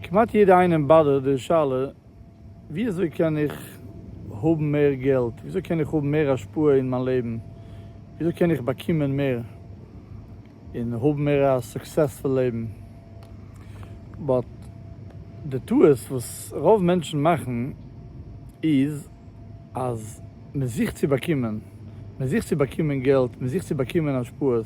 כמעט יעדע איינעם באדערט די שאלה ווי אזוי קען איך האבן מער געלט, ווי אזוי קען איך האבן מער השפעה אין מיין לעבן, ווי אזוי קען איך באקומען מער און האבן מער א סוקסעספול לעבן, באט די טעות וואס רוב מענטשן מאכן איז אז מען זוכט צו באקומען, מען זוכט צו באקומען געלט, מען זוכט צו באקומען השפעות.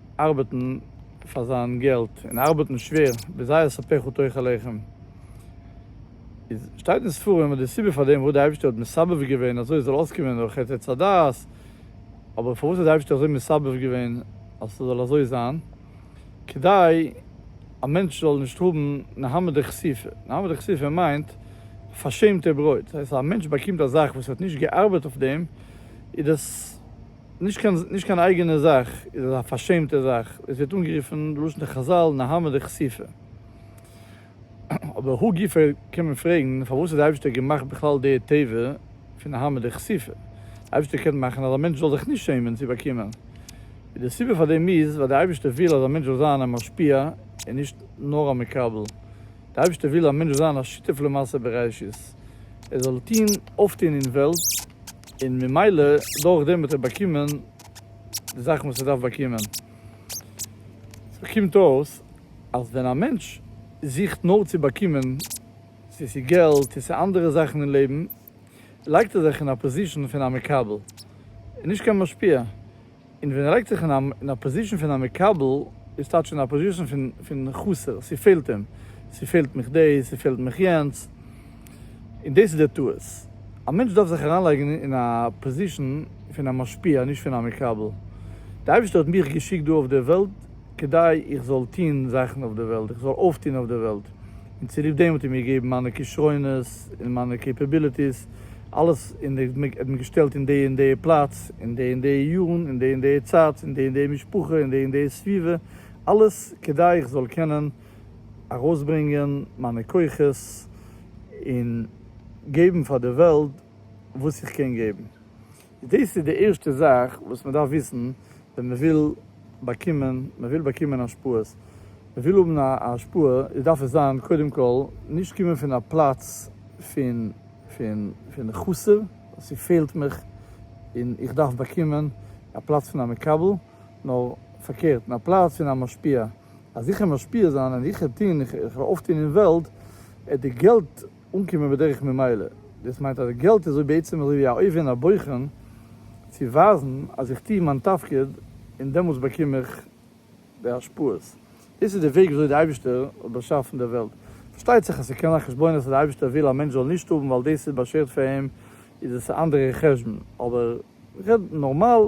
ארבעטן פאר זיין געלט און ארבעטן שווער ווי זייער ספק הוא תוכו לחם איז שטייט אין ספרים אז די סיבה פאר דעם וואס די אייבערשטער האט מסבב געווען אזוי עס זאל אויסקומען דורך חטא עץ הדעת אבער פארוואס האט די אייבערשטער אזוי מסבב געווען אז ס'זאל אזוי זיין כדי א מענטש זאל נישט האבן נהמא דכסיפא נהמא דכסיפא מיינט פארשעמטע ברויט דאס הייסט אז א מענטש באקומט א זאך וואס ער האט נישט געארבעט אויף דעם איז דאס. נישט קיין נישט קיין אייגענע זאך, איז עס א פארשעמטע זאך, עס ווערט אנגערופן בלשון די חזל נהמא דכסיפא. אבער הא גופא קען מען פרעגן, פארוואס האט די אייבערשטער געמאכט בכלל די טבע פון נהמא דכסיפא? די אייבערשטער קען מאכן אז א מענטש זאל זיך נישט שעמען צו באקומען. און די סיבה פאר דעם איז, ווייל די אייבערשטער וויל אז א מענטש זאל זיין א משפיע און נישט נאר א מקבל. די אייבערשטער וויל אז א מענטש זאל זיין א שותף למעשה בראשית, ער זאל טון אויפטון אין וועלט, און ממילא דורך דעם האט ער באקומען די זאכן וואס ער דארף באקומען. סאו קומט אויס אז ווען א מענטש זוכט נאר צו באקומען, צו ס'איז געלט צו ס'איז אנדערע זאכן אין לעבן, לייגט ער זיך אין א פאזישאן פון א מקבל און נישט קיין משפיע. און ווען ער לייגט זיך אין א פאזישן פון א מקבל, איז טייטש אין א פאזישן פון חסר, ס'פעלט אים, ס'פעלט מיך דאס, ס'פעלט מיך יענץ, און דאס איז דער טעות. א מענטש דארף זיך אריינלייגן אין א פאזישן פון א משפיע, נישט פון א מקבל. דער אייבערשטער האט מיך געשיקט דא אויף דער וועלט, כּדי איך זאָל טאָן זאַכן אױף דער װעלט, איך זאָל אױפֿטאָן אױף דער װעלט. און צוליב דעם האָט ער מיר געגעבן מײַנע כּישרונות און מײַנע קעפּעביליטיס, אַלעס, און ער האָט מיר געשטעלט אין די און די פּלאַץ, אין די און די יאָרן, אין די און די צײַט, אין די און די משפּחה, אין די און די סבֿיבֿה, אַלעס, כּדי איך זאָל קענען אַרױסברענגען מײַנע כּוחות און געבן פֿאַר דער װעלט װאָס איך קען געבן. דאס איז די ערשטע זאך וואס מען דארף וויסן ווען מען וויל באקומען, מען וויל באקומען השפעות, מען וויל האבן א השפעה, איז דארף עס זיין קודם כל נישט קומען פון א פלאץ פון פון פון חסר, ס'פעלט מיך און איך דארף באקומען, א פלאץ פון א מקבל, נאר פארקערט, פון א פלאץ פון א משפיע, אז איך וועל משפיע זיין און איך וועל טון, איך וועל אויפטון אין וועלט, די געלט. אנקומען בדרך ממילא. דאס מיינט אז די געלט איז בעצם אזוי ווי א אויבען א בוחן צו ווייזן אז איך טוה מיין תפקיד און דעמאלטס באקום איך די השפעות. דאס איז די וועג וויאזוי די אייבישטער האט באשאפן די וועלט. פארשטייט זיך אז ס'קען זיין חשבונות אז די אייבישטער וויל א מענטש זאל נישט האבן ווייל דאס איז באשערט פאר אים איז עס א אנדערע חשבון אבער. רעד נארמאל,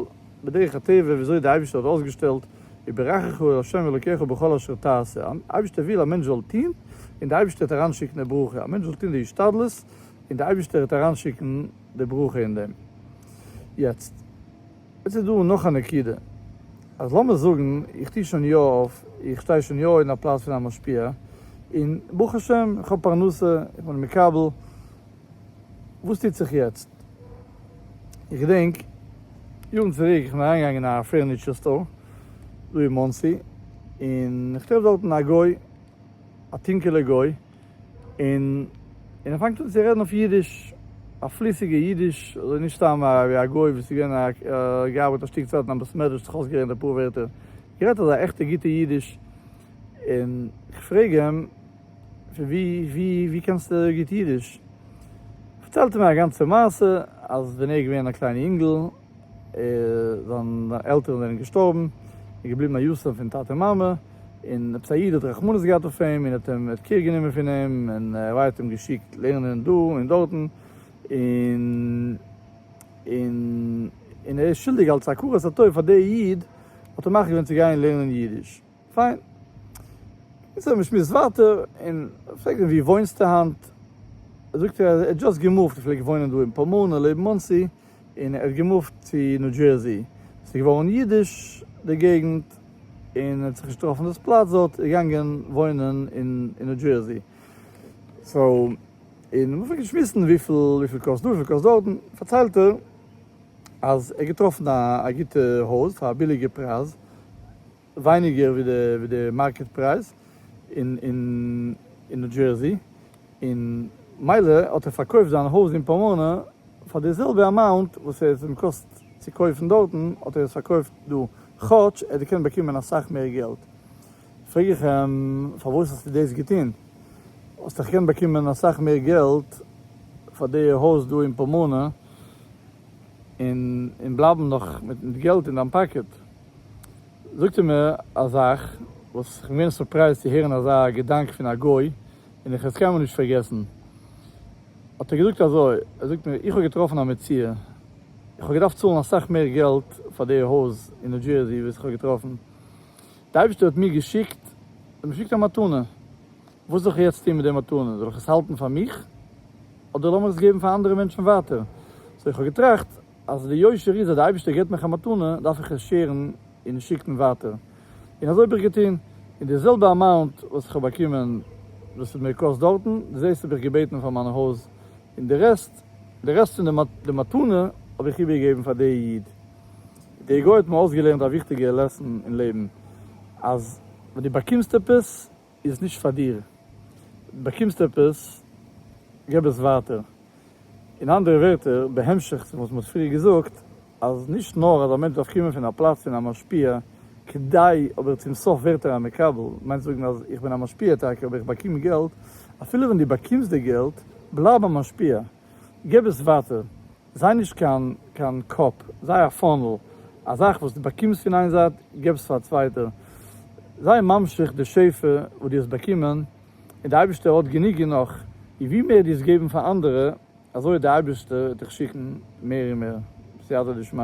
בדרך הטבע וויאזוי די אייבישטער האט אויסגעשטעלט, יברכך ה' אלוקיך בכל אשר תעשה, אן אייבישטער וויל א מענטש זאל טוהן, און די אייבישטער העט אריינשיקן די ברכה, א מענטש זאל טוהן די השתדלות, און די אייבישטער העט אריינשיקן די ברכה אין דעם. יעצט יעצט איז דא נאך א נקודה, אז לאמיר זאגן איך טוה שוין יא אויף, איך שטיי שוין יא אין א פלאץ פון א משפיע, און ברוך השם איך האב פרנסה, איך בין מקבל, וואס טוט זיך יעצט? איך געדענק יארן צוריק איך בין אריינגעגאנגען אין א פערניטשער סטאר דא אין מאנסי, און איך טרעף דארטן א גוי, א טונקעלע גוי, און און ער פאנגט אן צו רעדן אויף אידיש, א פליסיגע אידיש, אזוי נישט סתם ווי א גוי וואס איז געווען א געארבעט א שטיק צייט אין א בית מדרש זיך אויסגערעדט אפאר ווערטער, גערעדט אזא עכטע גוטע אידיש, און איך פרעג אים. ווי ווי ווי קענסטו גוט אידיש? פארציילט ער מיר א גאנצע מעשה אז ווען ער איז געווען א קליינע אינגל זיין עלטערן זענען געשטארבן ער איז געבליבן א יתום פון טאטע און מאמע און עפעס א איד האט רחמנות געהאט אויף אים און האט אים קעיר גענומען פון אים און רבי האט אים געשיקט לערנען דא און דארטן און און און ער איז שולדיג אלץ הכרת הטוב פאר די איד האט ער מחליט געווען צו גיין לערנען אידיש. פיין. איז האט מען געשמועסט ווייטער, און איך פרעג אים וואו וואוינסטו היינט? זאגט ער אז ער האט דזשאסט געמופט, ער פלעגט וואוינען דא אין פאמאנע לעבן מאנסי, און ער האט געמופט צו ניו דזשערסי, עס איז געווארן אידיש די געגנט, און ער האט זיך נישט געטראפן דאס פלאץ דארט, איז ער געגאנגען וואוינען אין ניו דזשערסי. סאו, און מען האט אנגעפאנגען שמועסן וויפיל וויפיל קאסט דא וויפיל קאסט דארט, פארציילט ער אז ער האט געטראפן א גוטע הויז פאר א ביליגע פרייז, ווייניגער ווי די מארקעט פרייז אין ניו דזשערסי, און מילא האט ער פארקויפט זיין הויז אין פאמאנא פאר די זעלבע אמאונט וואס עס האט אים געקאסט צו קויפן דארטן האט ער עס פארקויפט דא כאטש ער האט געקענט באקומען אסאך מער געלט, פרעג איך אים פארוואס האסטו דאס געטון? האסט דאך געקענט באקומען אסאך מער געלט פאר די הויז דא אין פאמאנא און בלייבן נאך מיט געלט אין דיין פאקעט. זאגט ער מיר א זאך וואס איך בין געווען סורפרייזט צו הערן אזא געדאנק פון א גוי, און איך וועל עס קיינמאל נישט פארגעסן, האט ער געזאגט אזוי, ער זאגט מיר, איך האב געטראפן א מציאה, איך האב געדארפט צאלן אסאך מער געלט פאר די הויז אין ניו דזשערסי וואס איך האב געטראפן, די אייבערשטער האט מיר געשיקט, ער האט מיר געשיקט א מתנה, וואס זאל איך יעצט טון מיט די מתנה, זאל איך עס האלטן פאר מיך, אדער לאמיך עס געבן פאר אנדערע מענטשן ווייטער, סאו איך האב געטראכט, אז די יושר איז אז די אייבישטער געבט מיך א מתנה דארף איך עס שעירן און שיקן ווייטער, און אזוי האב איך געטון, און די זעלבע אמאונט וואס איך האב באקומען וואס ס'האט מיר געקאסט דארטן, די זעלבסט האב איך געבעטן פאר מיין הויז, און די רעסט, די רעסט פון די מתנה האב איך איבערגעגעבן פאר די איד. די גוי האט מיר אויסגעלערנט א וויכטיגע לעסן אין לעבן, אז ווען דו באקומסט עפעס, איז נישט פאר דיר, באקומסט עפעס, געב עס ווייטער. אין אנדערע ווערטער, בהמשך צו וואס מען האט פריער געזאגט, אז נישט נאר אז א מענטש דארף קומען פון א פלאץ פון א משפיע כדי, אבער צום סוף ווערט ער א מקבל, מיינט זאגן אז איך בין א משפיע טאקע אבער איך באקום געלט, אפילו ווען דו באקומסט די געלט, בלייב א משפיע. גיב עס ווייטער, זיי נישט קיין קיין קאפ, זיי א פאנעל, א זאך וואס דו באקומסט פון איין זייט, גיב עס פאר א צווייטע, זיי ממשיך די שפע וואס דו האסט באקומען, און די אייבערשטער האט גענוג און נאך, און ווי מער דו וועסט געבן פאר אנדערע, אזוי וועט די אייבערשטער דיך שיקן מער און מער, בסייעתא דשמיא.